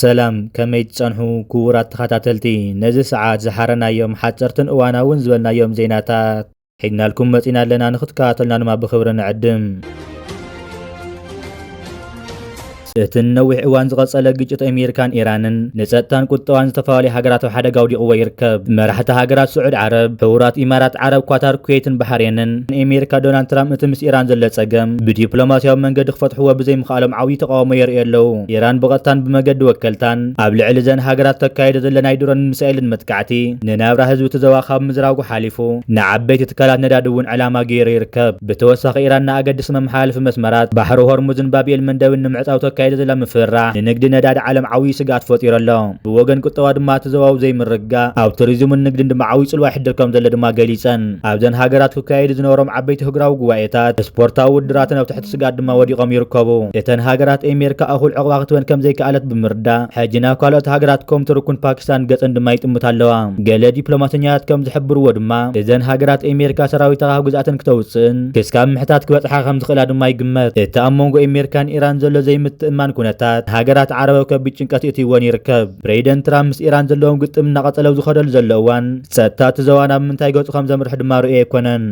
ሰላም ከመይ ትጸንሑ ክቡራት ተኸታተልቲ ነዚ ሰዓት ዝሓረናዮም ሓጸርትን እዋናውን ዝበልናዮም ዜናታት ሒዝናልኩም መጺና ኣለና ንክትከታተሉና ድማ ብክብሪ ንዕድም። እቲ ንነዊሕ እዋን ዝቐጸለ ግጭት ኣሜሪካን ኢራንን ንጸጥታን ቁጠባን ዝተፈላለዩ ሃገራት ኣብ ሓደጋ ኣውዲቕዎ ይርከብ። መራሕቲ ሃገራት ስዑድ ዓረብ፣ ሕቡራት ኢማራት ዓረብ፣ ኳታር፣ ኩዌትን ባሕሬንን ንኣሜሪካ ዶናልድ ትራምፕ እቲ ምስ ኢራን ዘሎ ጸገም ብዲፕሎማስያዊ መንገዲ ክፈትሕዎ ብዘይምኽኣሎም ዓብዪ ተቓውሞ የርእዩ ኣለዉ። ኢራን ብቐጥታን ብመገዲ ወከልታን ኣብ ልዕሊ እዘን ሃገራት ተካይዶ ዘለ ናይ ድሮንን ሚሳኤልን መጥቃዕቲ ንናብራ ህዝቢ እቲ ዞባ ካብ ምዝራጉ ሓሊፉ ተዓጻጺፉ ንዓበይቲ ትካላት ነዳዲ እውን ዕላማ ገይሩ ይርከብ። ብተወሳኺ ኢራን ንኣገድስቲ መመሓላለፊ መስመራት ባሕሪ ሆርሙዝን ባብ ኤል መንደብን ንምዕጻው ተካይዶ ዘላ ምፍርራህ ንንግዲ ነዳዲ ዓለም ዓብዪ ስግኣት ፈጢሩ ኣሎ። ብወገን ቁጠባ ድማ እቲ ዞባዊ ዘይምርግጋእ ኣብ ቱሪዝምን ንግድን ድማ ዓብዪ ጽልዋ የሕድር ከምዘሎ ድማ ገሊጸን። ኣብዘን ሃገራት ክካየዱ ዝነበሮም ዓበይቲ ህግራዊ ጉባኤታት፣ ስፖርታዊ ውድድራትን ኣብ ትሕቲ ስጋት ድማ ወዲቖም ይርከቡ። እተን ሃገራት ኤሜርካ እኹል ዕቕባ ክትበን ከምዘይከኣለት ብምርዳእ ሕጂ ናብ ካልኦት ሃገራት ኮም ቱርኩን ፓኪስታን ገጸን ድማ ይጥምታ ኣለዋ። ገለ ዲፕሎማሰኛታት ከም ዝሕብርዎ ድማ እዘን ሃገራት ኤሜርካ ሰራዊታ ካብ ግዝኣተን ክተውጽእን ክስካብ ምሕታት ክበጽሓ ከም ዝኽእላ ድማ ይግመት። እቲ ኣብ መንጎ ኤሜርካን ኢራን ዘሎ ዘይምትእምማን ኩነታት ንሃገራት ዓረብ ኣብ ከቢድ ጭንቀት የእትይወን ይርከብ። ፕሬይደንት ትራምፕ ምስ ኢራን ዘለዎም ግጥም እናቐጸለ ኣብ ዝኸደሉ ዘሎ እዋን ጸጥታ እቲ ዞባ ናብ ምንታይ ገጹ ከም ዘምርሕ ድማ ርኡይ ኣይኮነን።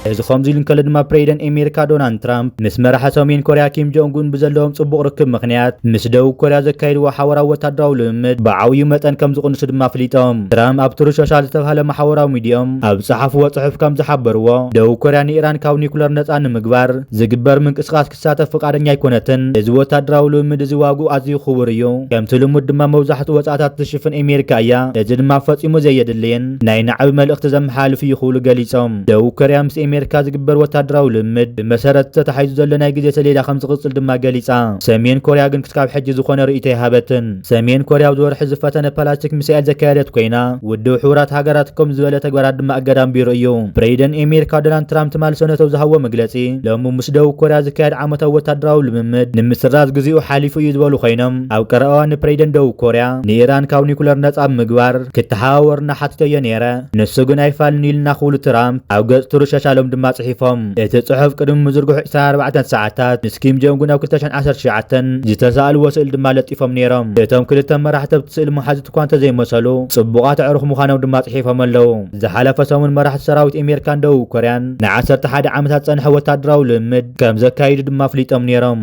እዚ ከምዚ ኢሉ እንከሎ ድማ ፕሬዚደንት ኣሜሪካ ዶናልድ ትራምፕ ምስ መራሒ ሰሜን ኮርያ ኪም ጆንጉን ብዘለዎም ጽቡቕ ርክብ ምክንያት ምስ ደቡብ ኮርያ ዘካይድዎ ሓበራዊ ወታደራዊ ልምምድ ብዓብዩ መጠን ከም ዝቕንሱ ድማ ኣፍሊጦም። ትራምፕ ኣብ ትሩዝ ሶሻል ዝተባህለ ማሕበራዊ ሚዲየኦም ኣብ ዝጸሓፍዎ ጽሑፍ ከም ዝሓበርዎ፣ ደቡብ ኮርያ ንኢራን ካብ ኒኩለር ነጻ ንምግባር ዝግበር ምንቅስቓስ ክትሳተፍ ፍቓደኛ ኣይኮነትን። እዚ ወታደራዊ ልምምድ እዚ ዋግኡ ኣዝዩ ክቡር እዩ። ከምቲ ልሙድ ድማ መብዛሕትኡ ወጻእታት እትሽፍን ኤሜሪካ እያ። እዚ ድማ ፈጺሙ ዘየድልይን ናይ ናዕቢ መልእኽቲ ዘመሓላልፍ እዩ ክብሉ ገሊጾም። ደቡብ ኮርያ ምስ ኤሜሪካ ዝግበር ወታደራዊ ልምምድ ብመሰረት ተታሒዙ ዘሎ ናይ ግዜ ሰሌዳ ከምዝቕጽል ድማ ገሊጻ። ሰሜን ኮርያ ግን ክስካብ ሕጂ ዝኾነ ርእይቶ ኣይሃበትን። ሰሜን ኮርያ ኣብዚ ወርሒ ዝፈተነ ፓላስቲክ ሚሳኤል ዘካየደት ኮይና፣ ውድብ ሕቡራት ሃገራት ከምዚ ዝበለ ተግባራት ድማ እገዳ ኣንቢሩ እዩ። ፕሬዚደን ኤሜሪካ ዶናልድ ትራምፕ ትማሊ ሰነተው ዝሃብዎ መግለጺ፣ ሎሚ ምስ ደቡብ ኮርያ ዝካየድ ዓመታዊ ወታደራዊ ልምምድ ንምስራዝ ግዚኡ ሓሊፉ እዩ ዝበሉ ኮይኖም፣ ኣብ ቀረባ እዋን ንፕሬዚደንት ደቡብ ኮርያ ንኢራን ካብ ኒኩለር ነጻ ብምግባር ክተሓባበሩና ሓቲተዮ ነይረ፣ ንሱ ግን ኣይፋልን'ዩ ኢሉና ክብሉ ትራምፕ ኣብ ገጽ ትሩዝ ሸሻሎም ድማ ጽሒፎም። እቲ ጽሑፍ ቅድሚ ምዝርግሑ ዕስራን ኣርባዕተን ሰዓታት ምስ ኪም ጆንግ ኡን ኣብ ክልተ ሽሕን ዓሰርተ ትሽዓተን ዝተሳእልዎ ስእሊ ድማ ለጢፎም ነይሮም። እቶም ክልተ መራሕቲ ኣብቲ ስእሊ መሓዙት እኳ እንተዘይመሰሉ፣ ጽቡቓት ኣዕሩኽ ምዃኖም ድማ ጽሒፎም ኣለዉ። ዝሓለፈ ሰሙን መራሕቲ ሰራዊት ኤሜሪካን ደቡብ ኮርያን ንዓሰርተ ሓደ ዓመታት ዝጸንሐ ወተሃደራዊ ልምምድ ከምዘካይዱ ድማ ኣፍሊጦም ነይሮም።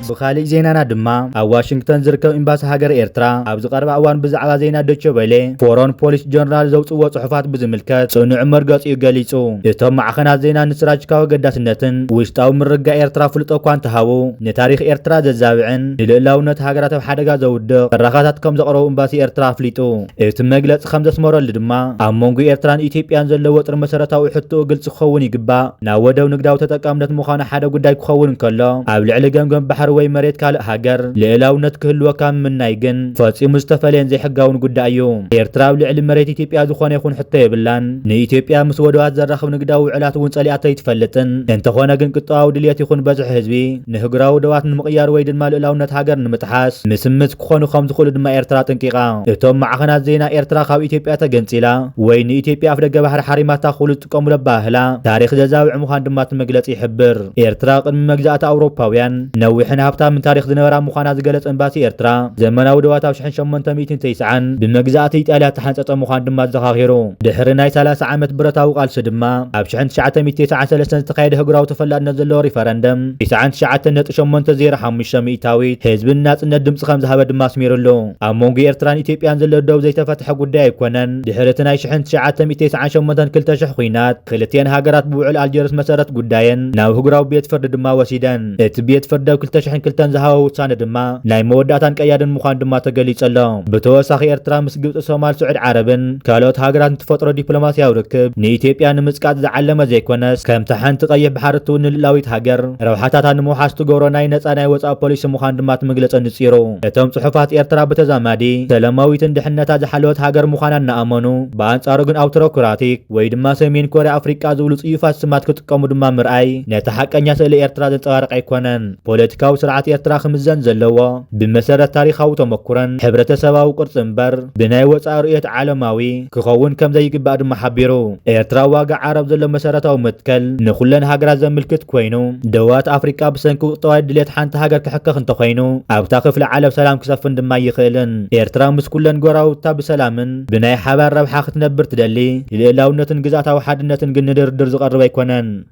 ብኻሊእ ዜናና ድማ ኣብ ዋሽንግተን ዝርከብ ኤምባሲ ሃገረ ኤርትራ ኣብዚ ቀረባ እዋን ብዛዕባ ዜና ዶቸ ቨለ ፎሮን ፖሊስ ጆርናል ዘውጽእዎ ጽሑፋት ብዝምልከት ጽኑዕ መርገጺኡ ገሊጹ። እቶም ማዕኸናት ዜና ንስትራጂካዊ ኣገዳስነትን ውሽጣዊ ምርግጋእ ኤርትራ ኣፍልጦ እኳ እንተሃቡ ንታሪኽ ኤርትራ ዘዛብዕን ንልእላውነት ሃገራት ኣብ ሓደጋ ዘውድቕ ትረኻታት ከምዘቕረቡ ኤምባሲ ኤርትራ ኣፍሊጡ። እቲ መግለፂ ከም ዘስመረሉ ድማ፣ ኣብ መንጎ ኤርትራን ኢትዮጵያን ዘሎ ወጥሪ መሰረታዊ ሕቶኡ ግልፂ ክኸውን ይግባእ። ናብ ወደብ ንግዳዊ ተጠቃምነት ምዃኑ ሓደ ጉዳይ ክኸውን እንከሎ፣ ኣብ ልዕሊ ገምገም ባሕሪ ወይ መሬት ካልእ ሃገር ልእላውነት ክህልወካ ምምናይ ግን ፈፂሙ ዝተፈለየን ዘይሕጋውን ጉዳይ እዩ። ኤርትራ ኣብ ልዕሊ መሬት ኢትዮጵያ ዝኾነ ይኹን ሕቶ የብላን። ንኢትዮጵያ ምስ ወደባት ዘራኽብ ንግዳዊ ውዕላት እውን ፀሊኣቶ ኣይትፈልጥን። እንተኾነ ግን ቁጠባዊ ድልየት ይኹን በዝሒ ህዝቢ ንህግራዊ ዶባት ንምቕያር ወይ ድማ ልእላውነት ሃገር ንምጥሓስ ምስምት፣ ክኾኑ ከም ዝኽእሉ ድማ ኤርትራ ኣጠንቂቓ። እቶም ማዕኸናት ዜና ኤርትራ ካብ ኢትዮጵያ ተገንጺላ ወይ ንኢትዮጵያ ኣፍደገ ባሕሪ ሓሪማታ ክብሉ ዝጥቀሙሉ ኣበሃህላ ታሪኽ ዘዛብዕ ምዃኑ ድማ እቲ መግለጺ ይሕብር። ኤርትራ ቅድሚ መግዛእቲ ኣውሮፓውያን ነዊሕን ሃብታምን ታሪኽ ዝነበራ ምዃና ዝገለጸ ኤምባሲ ኤርትራ፣ ዘመናዊ ዶባት ኣብ ሽሕን ሸሞንተ ሚእትን ተስዓን ብመግዛእቲ ኢጣልያ ዝተሓንጸጸ ምዃኑ ድማ ኣዘኻኺሩ። ድሕሪ ናይ ሰላሳ ዓመት ብረታዊ ቃልሲ ድማ ኣብ ሽሕን ትሽዓተ ሚእቲ ተስዓን ሰለስተን ዝተኻየደ ህጉራዊ ተፈላጥነት ዘለዎ ሪፈረንደም፣ ኢሳዕን ትሽዓተ ነጥቢ ሸሞንተ ዜሮ ሓሙሽተ ሚእታዊት ህዝቢ ንናጽነት ድምጺ ከም ዝሃበ ድማ ኣስሚሩ ኣሎ። ኣብ መንጎ ኤርትራን ኢትዮጵያን ዘሎ ደው ዘይተፈትሐ ጉዳይ ኣይኮነን። ድሕሪ እቲ ናይ ሽሕን ትሽዓተ ሚእቲ ተስዓን ሸሞንተን ክልተ ሽሕ ኹናት፣ ክልቲኤን ሃገራት ብውዕል ኣልጀርስ መሰረት ጉዳየን ናብ ኣህጉራዊ ቤት ፍርዲ ድማ ወሲደን። እቲ ቤት ፍርዲ ኣብ ክልተ ሽሕን ክልተን ዝሃቦ ውሳነ ድማ ናይ መወዳእታን ቀያድን ምዃኑ ድማ ተገሊጹ ኣሎ። ብተወሳኺ ኤርትራ ምስ ግብጺ፣ ሶማል፣ ስዑድ ዓረብን፣ ካልኦት ሃገራት ንትፈጥሮ ዲፕሎማስያዊ ርክብ ንኢትዮጵያ ንምጽቃጥ ዝዓለመ ዘይኮነስ ከምታ ሓንቲ ቀይሕ ባሕሪ እትውንን ልእላዊት ሃገር ረብሓታታ ንምውሓስ ትገብሮ ናይ ነጻ ናይ ወጻኢ ፖሊሲ ምዃኑ ድማ እቲ መግለጺ ኣንጺሩ። እቶም ጽሑፋት ኤርትራ ብተዛማዲ ሰለማዊትን ድሕነታ ዝሓለወት ሃገር ምዃና እናኣመኑ ብኣንጻሩ ግን ኣውቶሮክራቲክ ወይ ድማ ሰሜን ኮርያ ኣፍሪቃ ዝብሉ ጽዩፋት ስማት ክጥቀሙ ድማ ምርኣይ ነቲ ሓቀኛ ስእሊ ኤርትራ ዘንጸባርቕ ኣይኮነን። ፖለቲካዊ ስርዓት ኤርትራ ክምዘን ዘለዎ ብመሰረት ታሪኻዊ ተመኩሮን ሕብረተሰባዊ ቅርጺ እምበር ብናይ ወጻኢ ርእዮት ዓለማዊ ክኸውን ከምዘይግባእ ድማ ሓቢሩ። ኤርትራ ዋጋ ዓረብ ዘሎ መሰረታዊ መትከል ንኹለን ሃገራት ዘምልክት ኮይኑ፣ ደወባት ኣፍሪቃ ብሰንኪ ቁጠባዊ ድሌት ሓንቲ ሃገር ክሕከኽ እንተኾይኑ ኣብታ ክፍሊ ዓለም ሰላም ክሰፍን ድማ ኣይኽእልን። ኤርትራ ምስ ኩለን ጎረባብታ ብሰላምን ብናይ ሓባር ረብሓ ክትነብር ትደሊ፣ ልእላውነትን ግዝኣታዊ ሓድነትን ግን ንድርድር ዝቐርብ ኣይኮነን።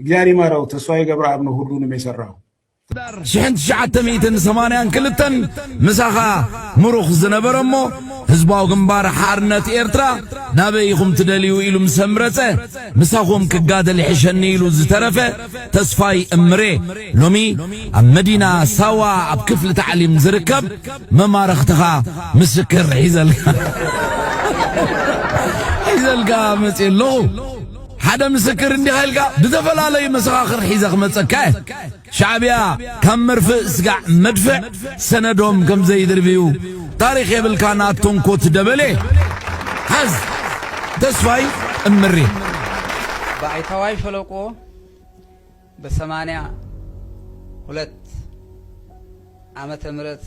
እግዚኣብሔር ይማረው ተስፋዬ ገብረኣብ ነው ሁሉንም የሰራው። ሽሕን ትሽዓተ ሚእትን ሰማንያን ክልተን ምሳኻ ምሩኽ ዝነበረ እሞ ህዝባዊ ግንባር ሓርነት ኤርትራ ናበይ ኢኹም ትደልዩ ኢሉ ምስ ኣምረጸ ምሳኹም ክጋደል ይሕሸኒ ኢሉ ዝተረፈ ተስፋይ እምሬ ሎሚ ኣብ መዲና ሳዋ ኣብ ክፍሊ ታዕሊም ዝርከብ መማረኽትኻ ምስክር ሒዘልካ ሒዘልካ መጽ ኣለኹ ሓደ ምስክር እንዲኻ ኢልካ ብተፈላለዩ መሰኻኽር ሒዘ ክመጸካ እየ ሻዕብያ ካብ መርፍእ ስጋዕ መድፍዕ ሰነዶም ከም ዘይድርብዩ ታሪኽ የብልካ ናቶንኮት ደበሌ ሓዝ ተስፋይ እምሪ ባይታዋይ ሸለቆ በሰማንያ ሁለት ዓመተ ምህረት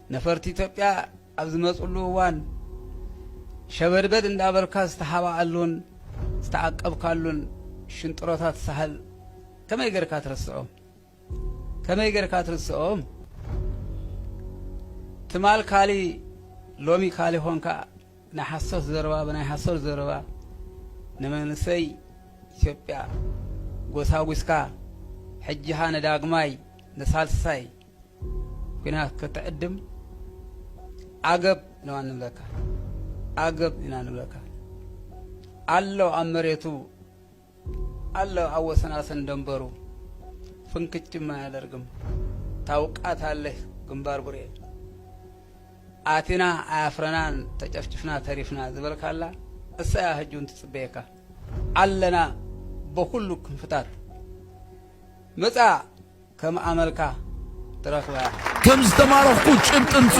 ነፈርቲ ኢትዮጵያ ኣብ ዝመፅሉ እዋን ሸበድበድ እንዳበልካ ዝተሓባኣሉን ዝተዓቀብካሉን ሽንጥሮታት ሳሕል ከመይ ገርካ ትርስዖም? ከመይ ገርካ ትርስዖም? ትማል ካሊ ሎሚ ካሊ ኾንካ ናይ ሓሶት ዘረባ ብናይ ሓሶት ዘረባ ንመንእሰይ ኢትዮጵያ ጎሳጒስካ ሕጂኻ ንዳግማይ ንሳልሳይ ግና ክትዕድም ዓገብ ኢና ንብለካ ዓገብ ኢና ንብለካ ኣሎ ኣብ መሬቱ ኣሎ ኣብ ወሰናስን ደንበሩ ፍንክችም ኣያደርግም ታውቃት ኣለህ ግንባር ቡሬ ኣቲና ኣያፍረናን ተጨፍጭፍና ተሪፍና ዝበልካላ እሳያ ህጁን ትጽበየካ ኣለና በኩሉ ክንፍታት መጻ ከም ኣመልካ ትረኽባ እያ። ከም ዝተማረኽኩ ጭብጢ ምጹ።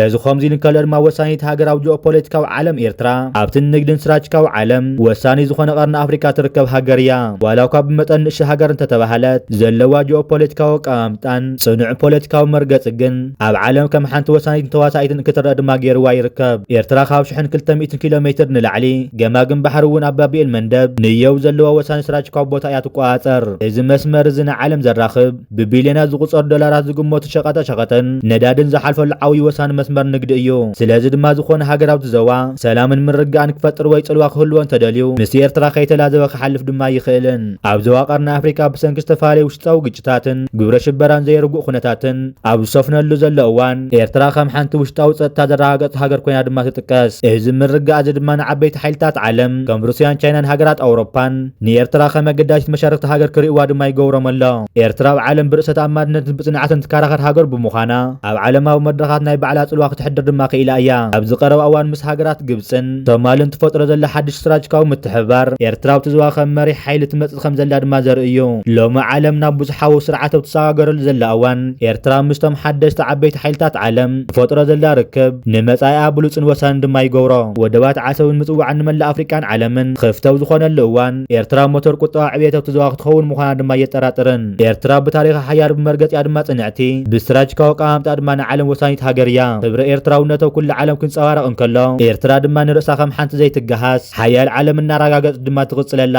እዚ ከምዚ ኢሉ እንከሎ ድማ ወሳኒት ሃገራዊ ጂኦፖለቲካዊ ዓለም ኤርትራ ኣብቲ ንግድን ስራጅካዊ ዓለም ወሳኒ ዝኾነ ቀርኒ ኣፍሪካ ትርከብ ሃገር እያ። ዋላ እኳ ብመጠን ንእሽቶ ሃገር እንተተባህለት ዘለዋ ጂኦፖለቲካዊ ኣቀማምጣን ፅኑዕ ፖለቲካዊ መርገፂ ግን ኣብ ዓለም ከም ሓንቲ ወሳኒትን ተዋሳኢትን ክትረኣ ድማ ገይርዋ ይርከብ። ኤርትራ ካብ ሽሕን ክልተ ሚእትን ኪሎ ሜትር ንላዕሊ፣ ገማግም ባሕሪ እውን ኣብ ባብ ኤል-መንደብ፣ ንየው፣ ዘለዋ ወሳኒ ስትራጂካዊ ቦታ እያ ትቆጻጸር። እዚ መስመር እዚ ንዓለም ዘራኽብ፣ ብቢልዮናት ዝቑጸሩ ዶላራት ዝግመቱ ሸቐጣ ሸቐጥን ነዳድን ዝሓልፈሉ ዓውዪ ወሳኒ መስመር ንግዲ እዩ። ስለዚ ድማ ዝኾነ ሃገር ኣብቲ ዘዋ ሰላምን ምርግጋእን ክፈጥር ወይ ጽልዋ ክህልዎ እንተደልዩ ምስ ኤርትራ ከይተላዘበ ክሓልፍ ድማ ኣይኽእልን። ኣብ ዘዋ ቀርኒ ኣፍሪቃ ብሰንኪ ዝተፈላለዩ ውሽጣዊ ግጭታትን ግብረ ሽበራን ዘይርጉእ ኩነታትን፣ ኣብ ዝሰፍነሉ ዘሎ እዋን፣ ኤርትራ ከም ሓንቲ ውሽጣዊ ጸጥታ ዘረጋገጸት ሃገር ኮይና ድማ ትጥቀስ። እዚ ምርግጋእ'ዚ ድማ ንዓበይቲ ሓይልታት ዓለም፣ ከም ሩስያን ቻይናን ሃገራት ኣውሮፓን፣ ንኤርትራ ከም ኣገዳሲት መሻርኽቲ ሃገር ክርእይዋ ድማ ይገብሮም ኣሎ። ኤርትራ ኣብ ዓለም ብርእሰ-ተኣማንነትን ብጽንዓትን ትከራኸር ሃገር ብምዃና፣ ኣብ ዓለማዊ መድረኻት ናይ ባዕላ ጽልዋ ክተሕድር ድማ ክኢላ እያ። ኣብዚ ቀረባ እዋን ምስ ሃገራት ግብጽን ሶማልን ትፈጥሮ ዘላ ሓድሽ ስትራጅካዊ ምትሕብባር፣ ኤርትራ ኣብቲ ዞባ ከም መሪሕ ሓይሊ ትመጽእ ትበጽ ከም ዘላ ድማ ዘርኢ እዩ። ሎሚ ዓለም ናብ ብዙሓዊ ስርዓት ኣብ ትሰጋገረሉ ዘላ እዋን፣ ኤርትራ ምስቶም ሓደስቲ ዓበይቲ ሓይልታት ዓለም ትፈጥሮ ዘላ ርክብ፣ ንመጻኢኣ ብሉጽን ወሳንን ድማ ይገብሮ። ወደባት ዓሰብን ምጽዋዕን ንመላእ ኣፍሪቃን ዓለምን ክፍቲ ኣብ ዝኾነሉ እዋን፣ ኤርትራ ሞተር ቁጠባ ዕብየት ኣብቲ ዞባ ክትኸውን ምዃና ድማ ኣየጠራጥርን። ኤርትራ ብታሪኻ ሓያል፣ ብመርገጺኣ ድማ ጽንዕቲ፣ ብስትራጂካዊ ኣቀማምጣኣ ድማ ንዓለም ወሳኒት ሃገር እያ። ክብሪ ኤርትራውነት ኣብ ኩሉ ዓለም ክንጸባረቕ እንከሎ፣ ኤርትራ ድማ ንርእሳ ከም ሓንቲ ዘይትገሃስ፣ ሓያል ዓለም እናረጋገጽ ድማ ትቕጽለላ።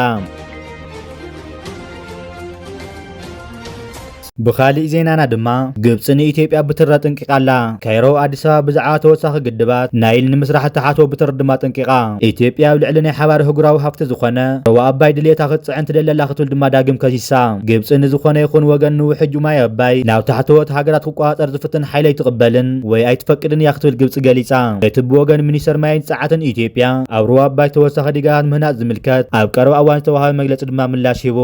ብኻሊእ ዜናና ድማ ግብፂ ንኢትዮጵያ ብትር ኣጠንቂቃ ኣላ። ካይሮ ኣዲስ ኣበባ ብዛዕባ ተወሳኺ ግድባት ናይል ንምስራሕ እትሓቶ ብትር ድማ ኣጠንቂቃ። ኢትዮጵያ ኣብ ልዕሊ ናይ ሓባር ህጉራዊ ሃፍቲ ዝኾነ ሩባ ኣባይ ድልየታ ክትፅዕን ትደሊ ኣላ ክትብል ድማ ዳግም ከሲሳ። ግብፂ ንዝኾነ ይኹን ወገን ንውሕጁ ማይ ኣባይ ናብ ታሕተዎት ሃገራት ክትቆፃፀር ዝፍትን ሓይሊ ኣይትቕበልን ወይ ኣይትፈቅድን እያ ክትብል ግብፂ ገሊፃ። እቲ ብወገን ሚኒስተር ማይን ፀዓትን ኢትዮጵያ ኣብ ሩባ ኣባይ ተወሳኺ ዲጋታት ምህናፅ ዝምልከት ኣብ ቀረባ እዋን ዝተውሃበ መግለፂ ድማ ምላሽ ሂቡ።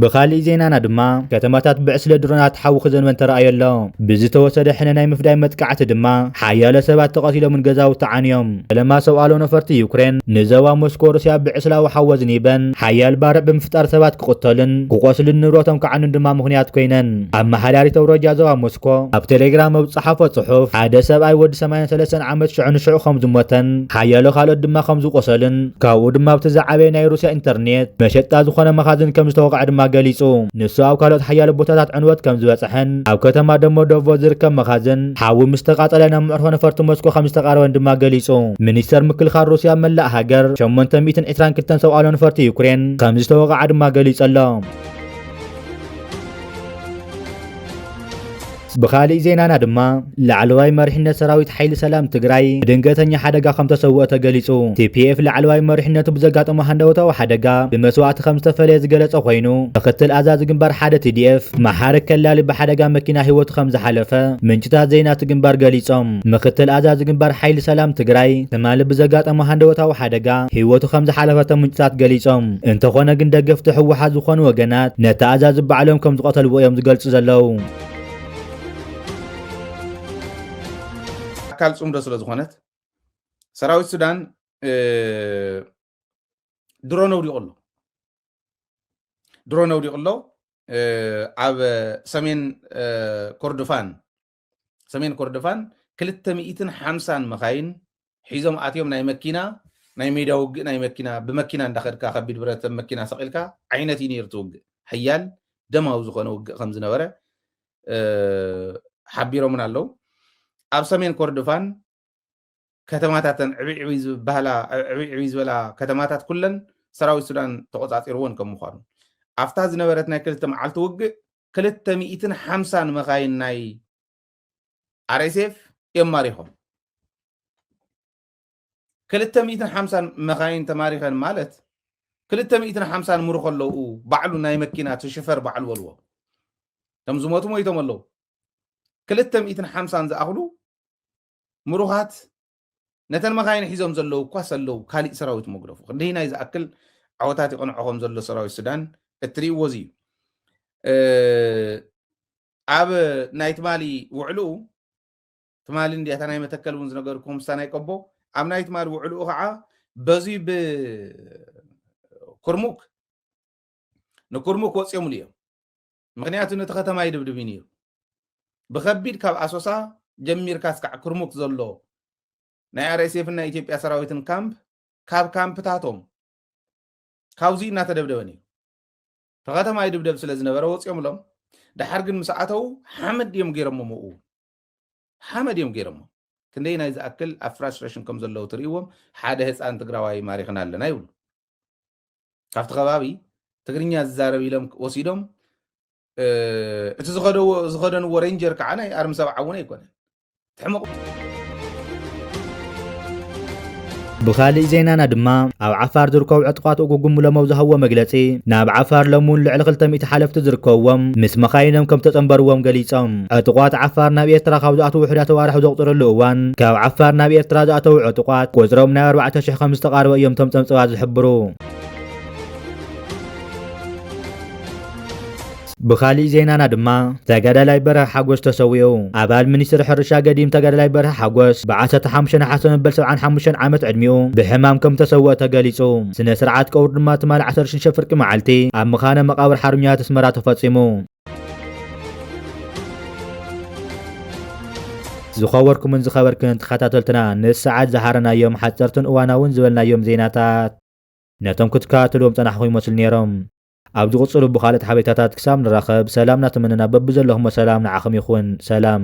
ብኻሊእ ዜናና ድማ ከተማታት ብዕስለ ድሮናት ሓዊ ክዘንበን ተራእዮ ኣሎ። ብዝተወሰደ ሕነ ናይ ምፍዳይ መጥቃዕቲ ድማ ሓያሎ ሰባት ተቐቲሎምን ገዛውቲ ዓንዮም። ፈለማ ሰውኣሎ ነፈርቲ ዩክሬን ንዘባ ሞስኮ ሩስያ ብዕስላዊ ሓወዝኒ በን ሓያል ባርዕ ብምፍጣር ሰባት ክቕተሉን ክቖስሉን ንብረቶም ክዓኑን ድማ ምኽንያት ኮይነን። ኣመሓዳሪት ኣውራጃ ዞባ ሞስኮ ኣብ ቴሌግራም ኣብ ዝጸሓፎ ጽሑፍ፣ ሓደ ሰብኣይ ወዲ ሰማንያን ሰለስተን ዓመት ሽዑ ንሽዑ ከም ዝሞተን ሓያሎ ካልኦት ድማ ከም ዝቖሰሉን ካብኡ ድማ ኣብቲ ዝዓበየ ናይ ሩስያ ኢንተርኔት መሸጣ ዝኾነ መኻዝን ከም ዝተወቕዐ ድማ ገሊጹ። ንሱ ኣብ ካልኦት ሓያሎ ቦታታት ዕንወት ከም ዝበጽሐን ኣብ ከተማ ደሞዶቮ ዝርከብ መኻዝን ሓዊ ምስ ተቓጸለ ናብ መዕርፎ ነፈርቲ ሞስኮ ከም ዝተቓረበን ድማ ገሊጹ። ሚኒስተር ምክልኻል ሩስያ ኣብ መላእ ሃገር ሸሞንተ ሚእትን ዕስራን ክልተን ሰብ ኣልቦ ነፈርቲ ዩክሬን ከም ዝተወቕዓ ድማ ገሊጹ ኣሎ። ብኻሊእ ዜናና ድማ ላዕለዋይ መሪሕነት ሰራዊት ሓይሊ ሰላም ትግራይ ብድንገተኛ ሓደጋ ከም ተሰውኦ ተገሊጹ። ቲፒኤፍ ላዕለዋይ መሪሕነቱ ብዘጋጠሞ ሃንደበታዊ ሓደጋ ብመስዋእቲ ከም ዝተፈለየ ዝገለጸ ኮይኑ ምክትል ኣዛዚ ግንባር ሓደ ቲዲኤፍ መሓሪ ከላሊ ብሓደጋ መኪና ህይወቱ ከምዝሓለፈ ምንጭታት ዜና እቲ ግንባር ገሊፆም። ምክትል ኣዛዚ ግንባር ሓይሊ ሰላም ትግራይ ትማሊ ብዘጋጠሞ ሃንደበታዊ ሓደጋ ህይወቱ ከምዝሓለፈ እቶም ምንጭታት ገሊፆም። እንተኾነ ግን ደገፍቲ ህወሓት ዝኾኑ ወገናት ነቲ ኣዛዚ ባዕሎም ከምዝቐተልዎ እዮም ዝገልፁ ዘለው። ኣካል ፅምዶ ስለዝኾነት ሰራዊት ሱዳን ድሮን ኣውዲቑ ኣሎ። ድሮን ኣውዲቑ ኣሎ ኣብ ሰሜን ኮርዶፋን ሰሜን ኮርዶፋን ክልተ ሚእትን ሓምሳን መኻይን ሒዞም ኣትዮም ናይ መኪና ናይ ሜዳ ውግእ ናይ መኪና ብመኪና እንዳኸድካ ከቢድ ብረት መኪና ሰቂልካ ዓይነት እዩ ነይሩ ትውግእ ሓያል ደማዊ ዝኾነ ውግእ ከም ዝነበረ ሓቢሮምን ኣለው ኣብ ሰሜን ኮርዶፋን ከተማታተን ዕብይ ዕብይ ዝበሃላ ዕብይ ዕብይ ዝበላ ከተማታት ኩለን ሰራዊት ሱዳን ተቖጻጺርዎን ከም ምዃኑ ኣብታ ዝነበረት ናይ ክልተ መዓልቲ ውግእ ክልተ ሚእትን ሓምሳን መኻይን ናይ ኣርኤስኤፍ እዮም ማሪኾም ክልተ ሚእትን ሓምሳን መኻይን ተማሪኸን ማለት ክልተ ሚእትን ሓምሳን ምርኾ ኣለዉ ባዕሉ ናይ መኪና ትሽፈር ባዕሉ በልዎ እቶም ዝሞቱ ሞይቶም ኣለዉ ክልተ ሚእትን ሓምሳን ዝኣኽሉ ምሩኻት ነተን መኻይን ሒዞም ዘለዉ እኳ ሰለዉ ካሊእ ሰራዊት መጉደፉ ክንደይናይ ዝኣክል ዓወታት ይቐንዖ ከም ዘሎ ሰራዊት ሱዳን እትርእይዎ እዚ እዩ ኣብ ናይ ትማሊ ውዕልኡ ትማሊ እንዲያ እታ ናይ መተከል እውን ዝነገርኩም ምስታ ናይ ቀቦ ኣብ ናይ ትማሊ ውዕልኡ ከዓ በዚ ብኩርሙክ ንኩርሙክ ወፂኦምሉ እዮም ምኽንያቱ ነቲ ከተማ ይድብድብ እዩ ነይሩ። ብኸቢድ ካብ ኣሶሳ ጀሚርካ እስካዕ ኩርሙክ ዘሎ ናይ ኣርኤስኤፍን ናይ ኢትዮጵያ ሰራዊትን ካምፕ ካብ ካምፕታቶም ካብዙይ እናተደብደበ ነይሩ። እቲ ከተማ ይድብደብ ስለ ዝነበረ ወፂኦምሎም ድሓር ግን ምስ ኣተው ሓመድ እዮም ገይሮሞ ምኡ ሓመድ እዮም ገይሮሞ ክንደይ ናይ ዝኣክል ኣብ ፍራስትሬሽን ከም ዘለዉ ትርእዎም ሓደ ህፃን ትግራዋይ ማሪኽና ኣለና ይብሉ ካብቲ ከባቢ ትግርኛ ዝዛረብ ኢሎም ወሲዶም እቲ ዝኸደንዎ ሬንጀር ከዓ ናይ ኣርሚ ሰብዓ እውን ኣይኮነን ትሕምቕ ብኻሊእ ዜናና ድማ ኣብ ዓፋር ዝርከቡ ዕጡቓት ኡጉጉም ሎም ኣብ ዝሃብዎ መግለፂ ናብ ዓፋር ሎሚ እውን ልዕሊ 200 ሓለፍቲ ዝርከብዎም ምስ መኻይኖም ከም ተፀንበርዎም ገሊፆም። ዕጡቓት ዓፋር ናብ ኤርትራ ካብ ዝኣትዉ ውሑዳት ኣዋርሕ ኣብ ዘቑጽረሉ እዋን፣ ካብ ዓፋር ናብ ኤርትራ ዝኣተዉ ዕጡቓት፣ ቁጽሮም ናብ ኣርባዕተ ሽሕ ከም ዝተቓረበ እዮም እቶም ጸብጸባት ዝሕብሩ። ብኻሊእ ዜናና ድማ፣ ተጋዳላይ በርሀ ሓጎስ ተሰዊኡ። ኣባል ሚኒስትሪ ሕርሻ ገዲም ተጋዳላይ በርሀ ሓጎስ፣ ብ ዓሰርተ ሓሙሽተ ነሓሰ መበል ሰብዓን ሓሙሽተን ዓመት ዕድሚኡ ብሕማም ከም ተሰወኣ ተገሊጹ። ስነ-ስርዓት ቀብሩ ድማ ትማሊ ዓሰርተ ሽዱሽተ ፍርቂ መዓልቲ፣ ኣብ መኻነ መቓብር ሓርበኛታት ኣስመራ ተፈጺሙ። ዝኸበርኩምን ዝኸበርክን ተኸታተልትና ንሰዓት ዝሃረናዮም ሓጸርትን እዋናውን ዝበልናዮም ዜናታት ነቶም ክትከታተልዎም ጸናሕኹም ይመስሉ ነይሮም። ኣብ ዝቕጽሉ ብኻልኦት ሓበሬታታት ክሳብ ንራኸብ ሰላም እናተመነና በብዘለኹሞ ሰላም ንዓኹም ይኹን። ሰላም።